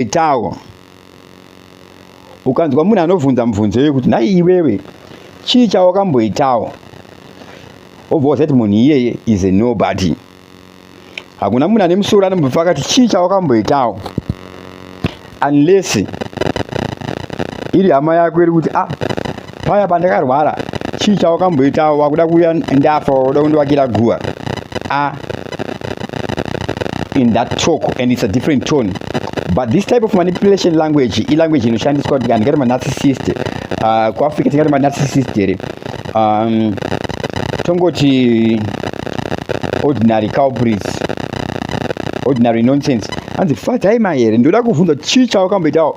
itawo ukanzwa munhu anobvunza mubvunzo yekuti nhai iwewe chii chawakamboitawo obva waziva kuti munhu iyeye is a nobody hakuna munhu ane musoro anombobva akati chii chawakamboitawo unless iri hama yako iri kuti a ah, paya pandakarwara chii chawakamboitawo wakuda kuuya ndafa wakuda kundiwakira guva a in that talk and it's a different tone but this type of manipulation language ilanguage inoshandiswa kuti andikati manarcissist uh, kuafrica tingati manarcissist here um, tongoti ordinary culprits ordinary nonsense hanzi fadzai mahere ndoda kuvhunza chii chawakamboitawo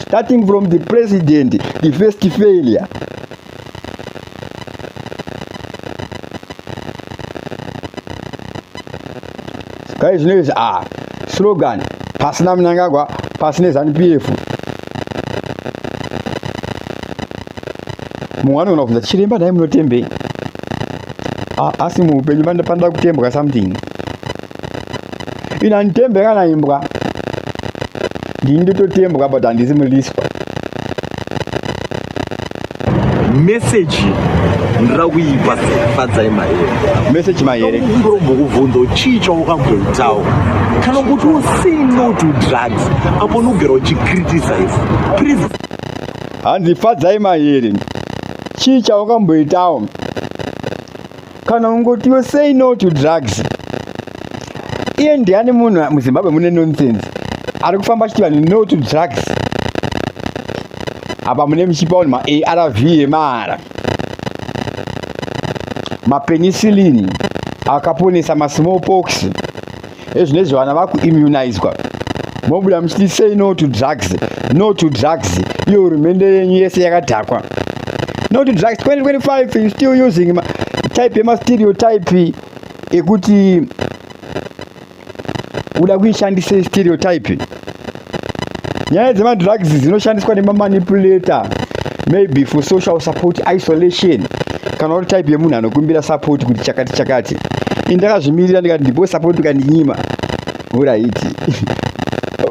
starting from the president the first failure kai zvino izvi a ah, slogan pasina munangagwa pasine zanu p f mumwe anoona kubvunza tichiremba nhai munotembei ah, asi muupenyu panda kutembwa something ina nditembe kana imbwa ndini ndototembwa but handisi mulispa meseji ndira kuipa sefadzai maere meseji maere ndokumbokubvunza chii chaukamboitawo kana kuti using no to drugs apo nogera uchicriticize please hanzi fadzai maere chii chaukamboitawo kana ungotiwo say no to drugs iye ndiani munhu muzimbabwe mune nonsense ari kufamba achiti vanhu no to drugs apa mune muchipa vanhu maarv emahara mapenicillin akaponesa masmall pox ezvinezvi vana vakuimmunizwa mobuda muchiti say no to drugs no to drugs iyo hurumende yenyu yese yakadhakwa no to drugs 2025 you still using ma, type yemastereotype ekuti uda kuishandisa stereotype nyaya dzemadrugs dzinoshandiswa nemamanipulator maybe for social support isolation kana uri type yemunhu anokumbira support kuti chakati chakati indakazvimirira ndikati ndipo support ukandinyima uraiti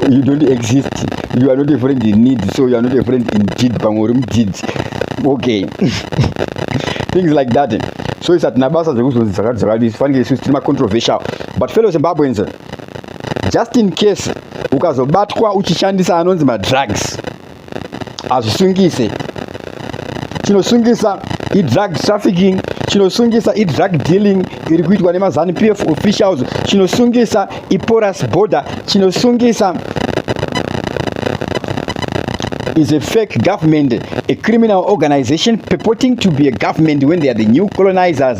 you don't exist you are not a friend in need so you are not a friend in deed pamwe uri mudzidzi okay things like that so isatina basa dzekuzozi dzakati dzakati fanike isusu tiri macontroversial but fellow zimbabweans just in case ukazobatwa uchishandisa anonzi madrugs hazvisungise chinosungisa idrug trafficking chinosungisa idrug dealing iri kuitwa nemazanu p f officials chinosungisa iporas border chinosungisa is a fake government, a criminal organization purporting to be a government when they are the new colonizers.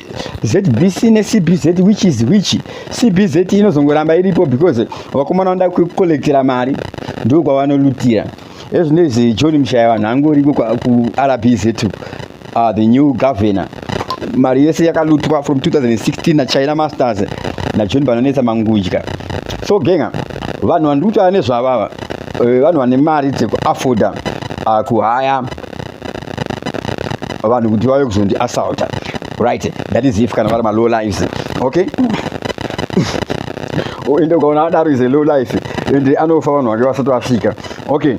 ZBC ne CBZ which is which CBZ inozongoramba iripo because vakomana vanoda kukolektera mari ndiko kwavanolutira ezvinezvi John Mshaya vanhu angoriko ku RBZ uh, ah, the new governor mari yese yakalutwa from 2016 na China Masters na John Banonesa Mangudya so genga vanhu vandikutaura nezvavava eh, vanhu vane mari dzekuafforda uh, ah, kuhaya vanhu kuti vave kuzondi assaulta right that is if kana vari malow lives okay oh, ende ukaona adaro is a low life ende anofa vanhu vake vasati vasvika okay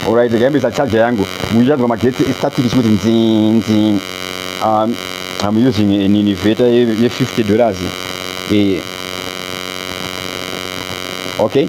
alright ndikayambisa charger yangu muchanzwa magetsi estatic chikuti nzinzi um, i'm using an innovator ye 50 dollars yeah. okay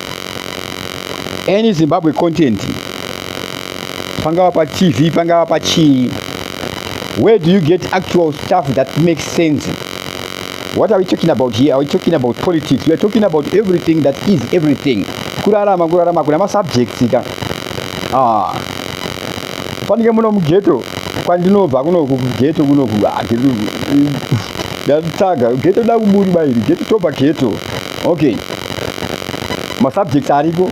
any zimbabwe content pangava patv pangava pachii where do you get actual stuff that makes sense what are we talking about here are we talking about politics we are talking about everything that is everything kurarama kurarama kuna masubjects ka ah. panike muno mugeto kwandinobva kunoku kugeto kunoku ah, ndatsvaga geto da kuburi bairi geto toba geto okay masubject ariko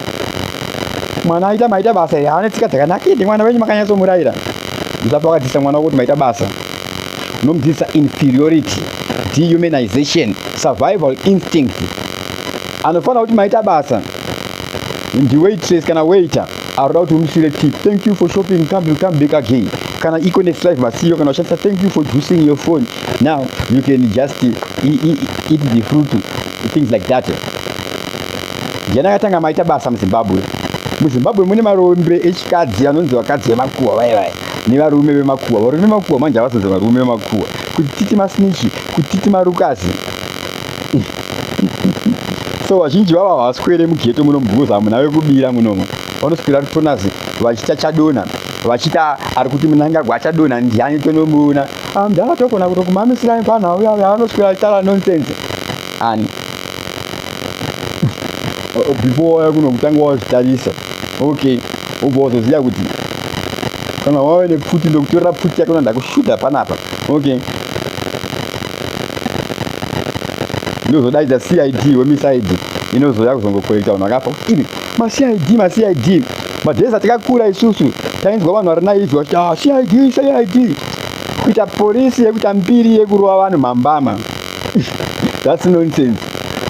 mwana aita maita basa here haane tsika dzakanaka ende mwana wenyu makanyatsomurayira musati wakadzidzisa mwana wako kuti maita basa unomudzidzisa inferiority dehumanization survival instinct anofanira kuti maita basa ndiwaitress kana waiter aroda kuti umusire tip thank you for shopping come will come back again kana iko next life masiyo kana ushandisa thank you for juicing your phone now you can just eat, eat, eat the fruit things like that jana katanga maita basa muzimbabwe muzimbabwe mune marombe echikadzi anonzi vakadzi vemakuwa vaye vaye nevarume vemakuwa varume vemakuwa manje havazonzi varume vemakuwa kutiti masnichi kutiti marukazi so vazhinji vavo havaswere mugeto muno because hamuna vekubira munomo vanoswera tonazi vachita chadona vachita ari kuti munangagwa achadona ndiani tonomuona amdala ah, tokona kuto kumamisira panha uya uya anoswera tala nonsense ani before waya kuno kutanga wazvitarisa okay ubva wazoziva kuti kana wave nepfuti ndokutorera pfuti yako nanda kushuta panapa okay ndozodaidza cid wemisaidi inozouya kuzongokorekta vanhu vakafa kuti ivi macid macid madhezi atakakura isusu tainzwa vanhu vari naivi vachiti ah, cid cid kuita porisi yekuita mbiri yekurova vanhu mambama thats nonsense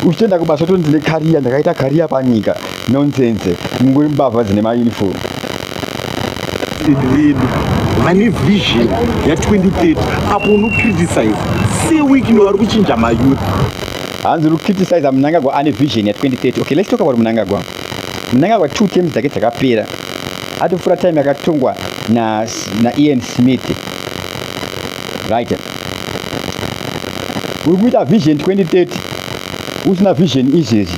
uchitenda kubasa tondine kariya ndakaita kariya panyika Nonsense. Mungori mbavha dzine ma uniform. Vedu vane vision ya 2030 apo uno criticize se week ndo vari kuchinja ma youth. Hanzi uri criticize Mnangagwa ane vision ya 2030. Okay, let's talk about Mnangagwa. Mnangagwa two terms dzake dzakapera. Atofura time yakatongwa na na Ian Smith. Right. Uri kuita vision 2030 usina vision izvezvi.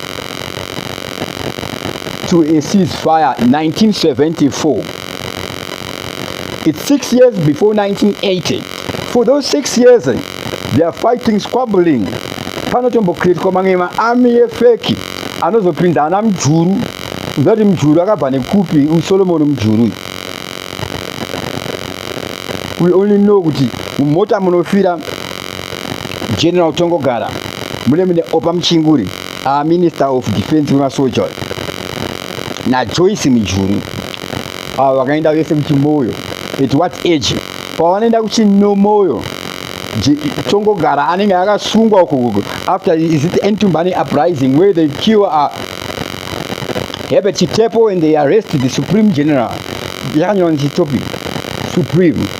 to a ceasefire in 1974. It's six years before 1980. For those six years, they are fighting, squabbling. Panotombokretwa mamwe maami yefeki anozopinda ana mjuru ndati mjuru akabva nekupi usolomoni mjuru we only know kuti mumota munofira general tongogara mune mune opa muchinguri our minister of defense wemasoja najoyce mujuru avo vakaenda vese kuchimoyo at what age pavanoenda kuchinomoyo tongogara anenge akasungwa uko after is it entumbani uprising where they kill uh, herbert chitepo and they arrest the supreme general yakanyora nechitopic supreme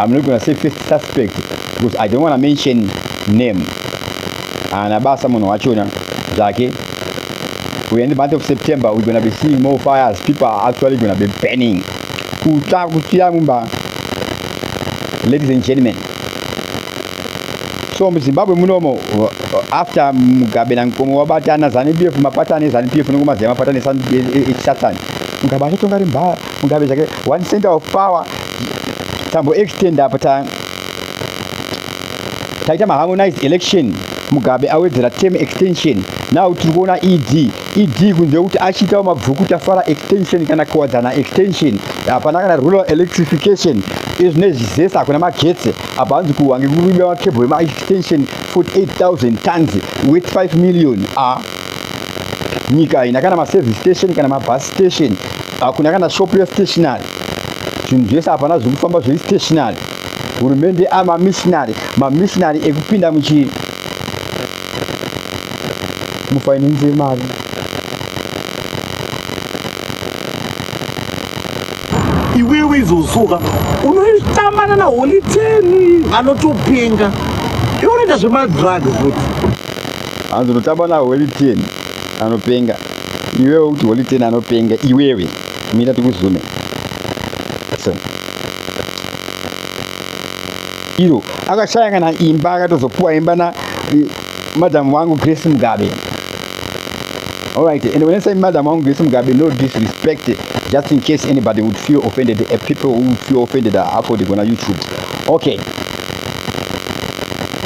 I'm not gonna say first suspect because I don't wanna mention name. Ana basa munhu wachona zvake. We in the month of September we're gonna be seeing more fires. People are actually gonna be burning. Kuta kutia mumba. Ladies and gentlemen. So muZimbabwe munomo after Mugabe na Nkomo wabatana ZANU PF mapatane ZANU PF nokumaziya mapatane e, e, e, Satan. Mugabe achatonga rimba mugabe zvake one center of power tambo extend apa ta taita maharmonized election mugabe awedzera term extension now tiri kuona ed ed kunze kuti achiitawo mabvuku tafara extension kana kuwadzana extension hapana kana rural electrification izvine zvizesa hakuna magetsi apa hanzi kuwange kuiba makebho emaextension 48000 tons with 5 million a ah. nyika haina kana maservice station kana mabus station hakuna kana shop yestationary zvinhu zvese hapana zviri kufamba zviri stationary hurumende amamissionary mamissionary ekupinda muchii mufinance yemari iwewe izosuka unoitambana na holiteni anotopenga iwe unoita zvemadrugs futi hanzi unotamba na holy ten anopenga iwewe kuti holy ten anopenga iwewe mira tikuzume so iro akashaya kana imba akatozopuwa imba na madam wangu grace mugabe alright and when i say madam wangu grace mugabe no disrespect just in case anybody would feel offended the people who feel offended are uploading on youtube okay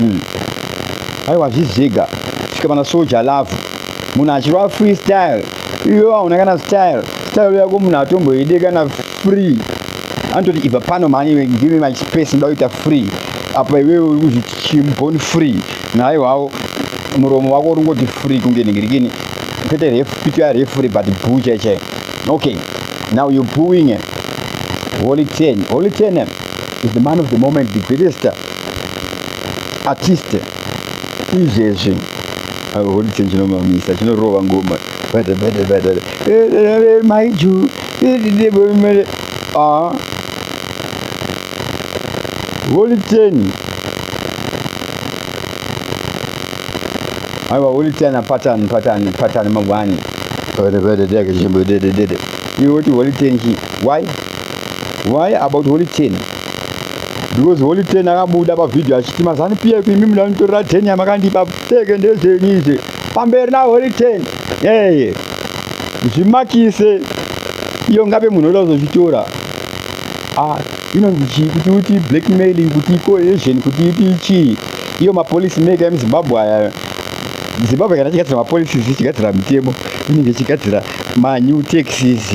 mm. aiwa zvizega svika pana soja love munhu achirwa free style iyo hauna kana style style yako munhu atomboide kana free anototi ibva pano mhani iwe give me my space ndoda kuita free apa iwewe uri kuzviti chimbon free naiwawo muromo wako uri ngoti free kunge ningirikini kwete refu pito ya refu re but buu chai chai okay now you booing holy ten holy ten is the man of the moment the greatest artiste izvezvi holice chinomamisa chinorova ngoma maiju holiteni aiwa holiteni apatani patani patani mangwani iwe woti holiteni chi why why about holiteni because holy ten akabuda pavhidhio achiti mazanu piya ku imi muda nitorera ten yamakandipa pfeke ndezvenyu izve pamberi na holy ten eye zvimakise iyo ngape munhu oda kuzozvitora ah, inonzi chii kuti uti blackmailing kuti cohesion kuti uti chii iyo mapolice maker emuzimbabwe aya zimbabwe kana chigadzira mapolices chigadzira mitemo inenge chigadzira manew taxes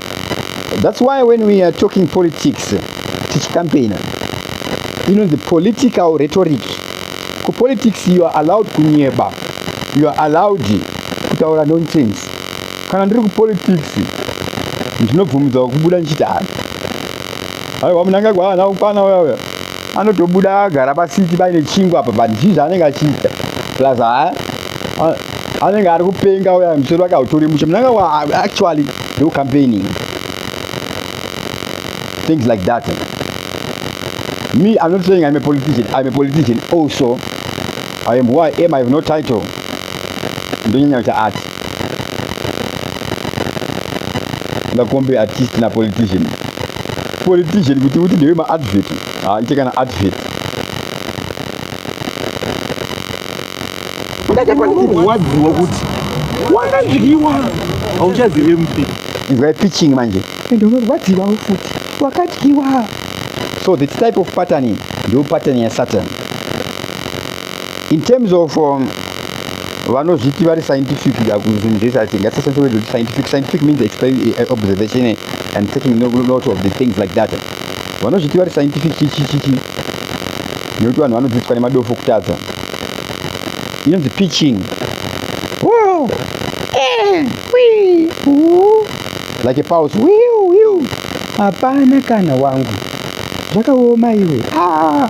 That's why when we are talking politics, tichicampaigner, you know the political rhetoric. Ku politics you are allowed kunyeba, you are allowed kutaura nonsense. Kana ndiri ku politics, ndinobvumidza kubuda ndichiti hana. Aiwa munangagwa hana kukwana uya uya. anotobuda agara pasiti paine chingwa apa but chii zvaanenge achiita plus ha anenge ari kupenga uya musoro wake hautori mushe munanga wa actually no campaigning things like that me i'm not saying i'm a politician i'm a politician also i am who i am i have no title ndonyanya kuti ati ngakombe artist na politician politician kuti uti ndewe maadvet haaite kana advet ndachakurwadziwa kuti wangadyiwa hauchazive mpi inzwai pitching manje ende unorwadziwawo futi wakadyiwa so this type of pattern ndo pattern yasatan in terms of um, vanozviti vari scientific zvinhu zvese asi ngatisashandise word rekuti scientific scientific means eh, observation eh, and taking note of the things like that vanozviti vari scientific chichichichi nekuti vanhu vanodzidziswa nemadofo kutadza inonzi pitching eh, like a pause hapana kana wangu zvakaoma iwe ah.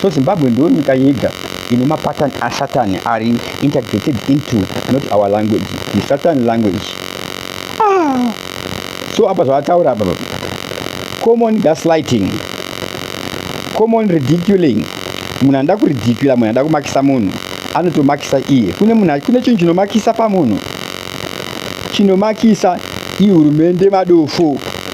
so zimbabwe ndiyo nyika yega ine mapatan asatan ari integrated into not our language the satan language ah. so apa zvavataura apa common gaslighting common ridiculing munhu anoda kuridicula munhu anoda kumakisa munhu anotomakisa iye kune munhu kune chinhu chinomakisa pamunhu chinomakisa ihurumende madofo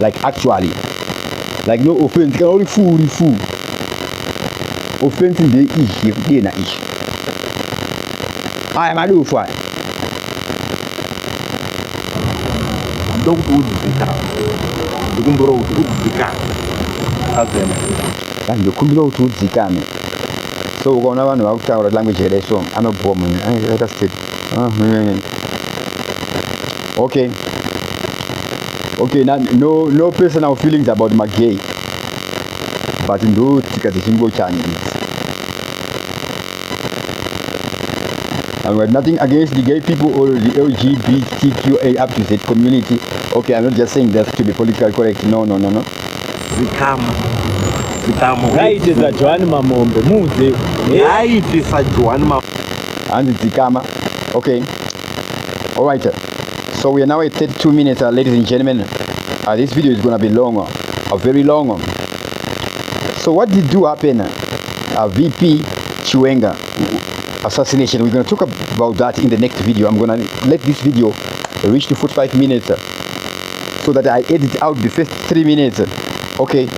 like actually like no offense kana uri fuu uri fuu offense ndei izvi yekudena izvi aya madufu aya ndokuti udzika ndikumbira kuti udzika azema ndikumbira kuti udzikame so ukaona vanhu vakutaura language here so anobhowa munhu akaita state ah, okay okay na, no, no personal feelings about magay but ndo tsika dzechingochani idzi I'm got nothing against the gay people or the LGBTQA up to Z community. Okay, I'm not just saying that to be politically correct. No, no, no, no. zikama zikama ngaite sajohani mamombe muuze ngaite sajohani mamombe hanzi dzikama okay all right so we are now at 32 minutes uh, ladies and gentlemen uh, this video is gonna be long uh, a very long uh. so what did do happen uh, uh vp chiwenga assassination we're gonna talk about that in the next video i'm gonna let this video reach to 45 minutes uh, so that i edit out the first three minutes okay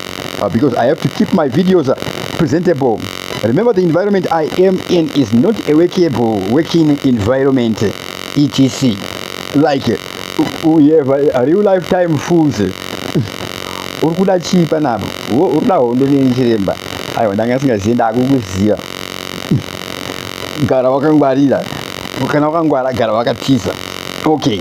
uh, because i have to keep my videos uh, presentable remember the environment i am in is not a workable working environment etc like we have a real lifetime fools uri kuda chii panapo uri kuda hondo neni chiremba aiwa ndanga asingazivi ndakukuziva gara wakangwarira kana wakangwara gara wakatiza okay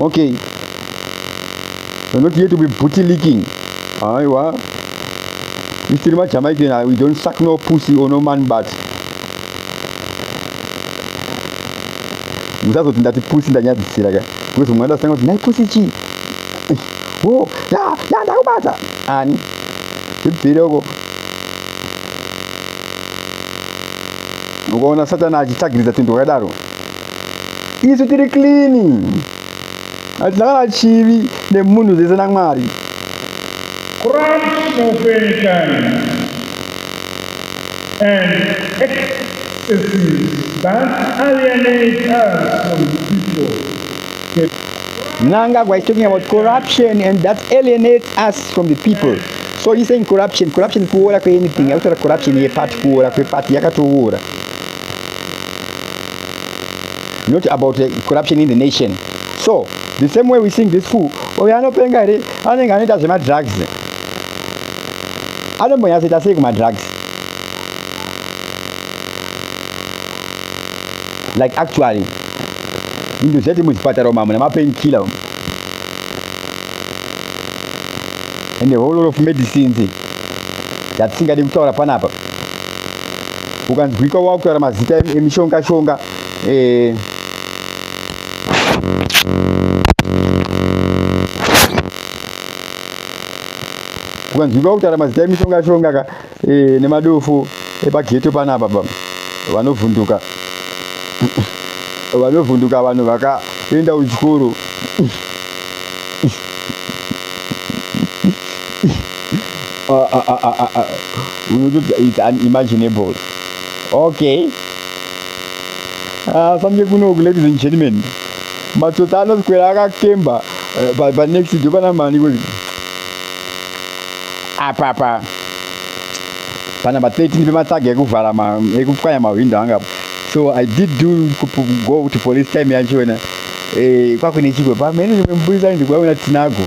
okay we're not here to be booty licking aiwa if tiri majamaican ah, we don't suck no pussy or no man but musazoti ndati pusi ndanyadzisira ka because mwana asanga kuti nai pusi chii wo ya ya ndakubata ani ibvire uko ukaona satani achitagiridza tinhu wakadaro isu tiri clean hatina kana chivi nemunhu zese namwari Christ of any kind and excesses that alienate us from people. Nanga was talking about corruption and that alienates us from the people. So he's saying corruption. Corruption kuora kweanything. Akutaura corruption yepati kuora kwepati yakatoora. not about the corruption in the nation so the same way we sing this fool oyo anopenga here anenge anoita zvemadrugs anombonyatsoita sei kumadrugs like actually ndozvati muzvipatara umu hamuna mapainkiller umu and the whole lot of medicines yatisingadi kutaura panapa ukanzwika wakutaura mazita emishonga shonga eh. ukanzwika wakutaura mazita emishonga shonga ka eh, nemadofo epageto panapa baba vanovhunduka vanovhunduka vanhu vakaenda kuchikoro uh, uh, uh, uh, uh, uh. it's unimaginable okay uh, samke kunoku ladies and gentlemen matsotsi anoswera akakemba uh, panext pa dopana mani kuti apapa panamba 13 pematsaga ekuvhara ekupwanya mahwindo anga apo so i did do go to police time yacho wena eh, kwakune chigwe pamene mburisani ndikuvaona tinago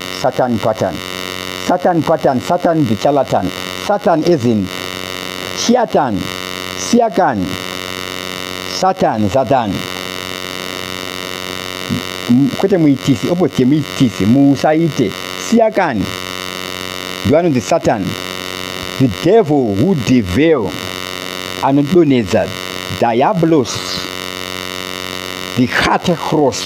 Satan pattern. Satan pattern, Satan the charlatan. Satan as in Shiatan, Siakan, Satan, Satan. Kwete muitisi, opposite muitisi, muusaite. Siakan, the one of the Satan. The devil who deveil anodonedza diabolos the heart cross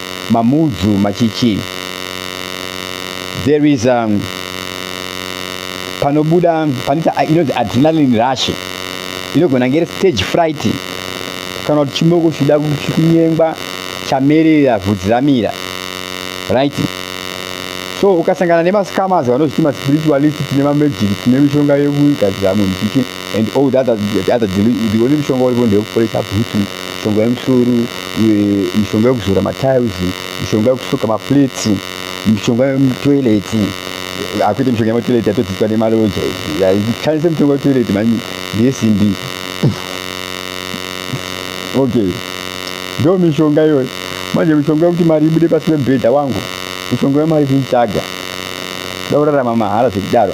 mamudzu machichi there is um, panobuda panoita inonzi adrenaline rush inogona ngere stage fright kana kuti chimoko chida kunyengwa chamerera vhudzi ramira right so ukasangana nemascamas vanozviti maspiritualist tine mamajiki tine mishonga yekugadzira munhu chichi and all the other, the other the only mishonga uripo ndeyekuporesa bhutu mishonga yemusoro mishonga yekuzora matiles mishonga yekusuka maplates mishonga yemutoilet akuite mishonga yematoilet yatodzidzwa nemaloja shandise mishonga yetoilet mani ndeyesimbi okay ndo mishonga iyoyo manje mishonga yekuti mari ibude pasi pemubhedha wangu mishonga yemari kuitsvaga da kurarama mahara zvekudaro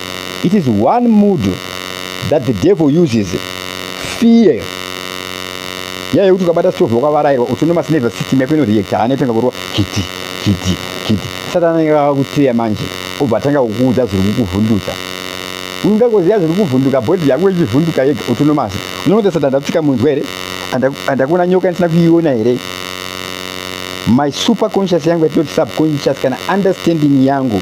It is one mood that the devil uses, fear. Yaya yekuti ukabata stove wakavarairwa autonomous nervous system yako inoreacta hana yotanga kurova kiti kiti kiti. Satani anenge akakuteya manje obva atanga kukuudza zviri kukuvhundutsa. Unoda kuziva zviri kuvhunduka body yako ichivhunduka yega autonomous. Unoona Satani ndakutsika munzwa here? Andakuona nyoka ndisina kuiona here? My superconscious yangu yatinoti subconscious kana understanding yangu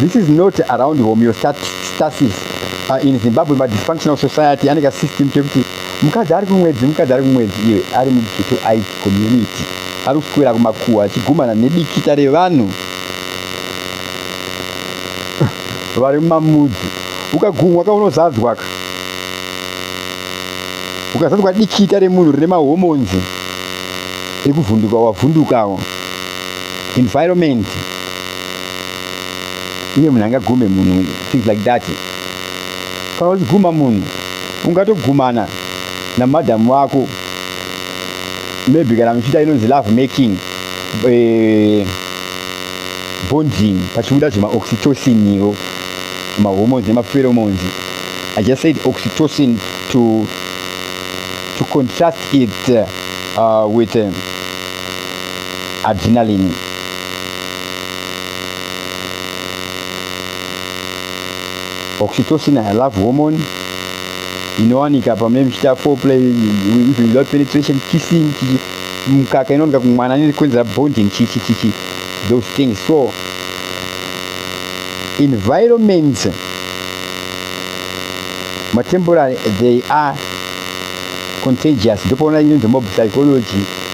This is not around homeostasis. Uh, in Zimbabwe, ma dysfunctional society aneka system kekuti mukadzi ari kumwedzi mukadzi ari kumwedzi iwe ari mughetto it community ari kuswera kumakuwa achigumana nedikita revanhu vari mumamudzi ukagumwa ka unozadzwa ka ukazadzwa dikita remunhu rine mahomonzi ekuvhunduka wavhundukawo environment iye munhu angagume munhu things like that kana uchiguma munhu ungatogumana namadam wako maybe kana muchiita inonzi love making eh, bonding pachibuda zvemaoxytocin iwo mahormones nemapheromones i just said oxytocin to, to contrast it uh, with um, adrenaline oxytocin a love hormone inowanika pamune muchiita foreplay even without penetration kissing chichi mukaka inowanika kumwana niri kuenzera bonding chichi chichi those things so environments matemporary they are contagious ndopaona inonzi mob psychology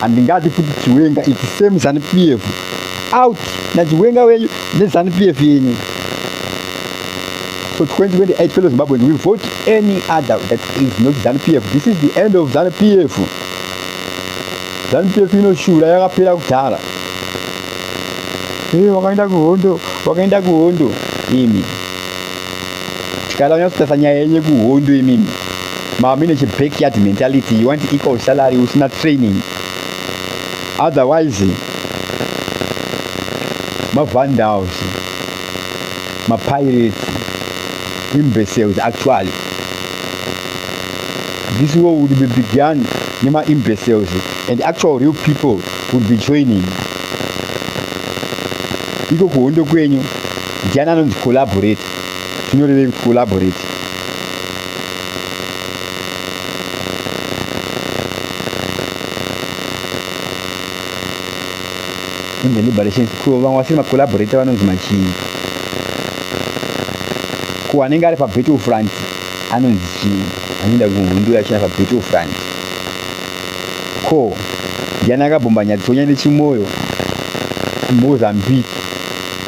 handingadi kuti chiwenga iti same zanu pf out nachiwenga wenyu nezanu pf yenyu so 2028 fellow zimbabweans we vote any other that is not zanu pf this is the end of zanu pf zanu pf inoshura yakapera kudhara hey, wakaenda kuhondo wakaenda kuhondo imi tikada kunyatso tasa nyaya yenye kuhondo imimi mami nechi backyard mentality you want equal salary usina training otherwise mavandals mapirates imbeciles actually this war would be begun nema imbeciles and actual real people would be joining iko kuhondo kwenyu ndiani anonzi collaborate zvinorevei kuti collaborate kunze liberation ko vamwe vasiri macollaborator vanonzi machii ko anenge ari pabattle front anonzi chii anoenda kuhondo yachina pabattle front ko ndiani akabhomba nyadzisonyane chimoyo mozambique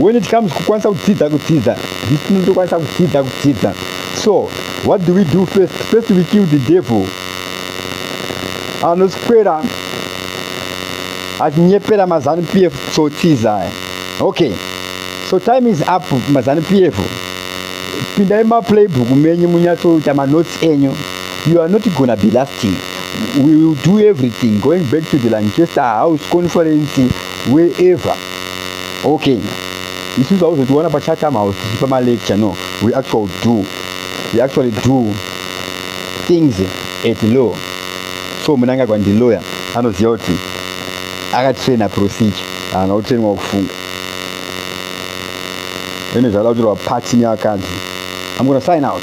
when it comes kukwanisa kudzidza kudzidza this tinotokwanisa kudzidza kudzidza so what do we do first first we kill the devil anoswera achinyepera mazanu p f tsotsiza okay so time is up mazanu p f pindai maplaybook menyu munyatsoita manotes enyu you are not gonna be lasting we will do everything going back to the lanchester house conference wherever okay isusu hauzotiona pachatham house tichipa malecture no we actually do we actually do things at law so munangagwa ndiloya anoziva kuti akatraina procedure haana kutrainwa kufunga ene zvaada kutorwa pati nevakadzi am gona sign out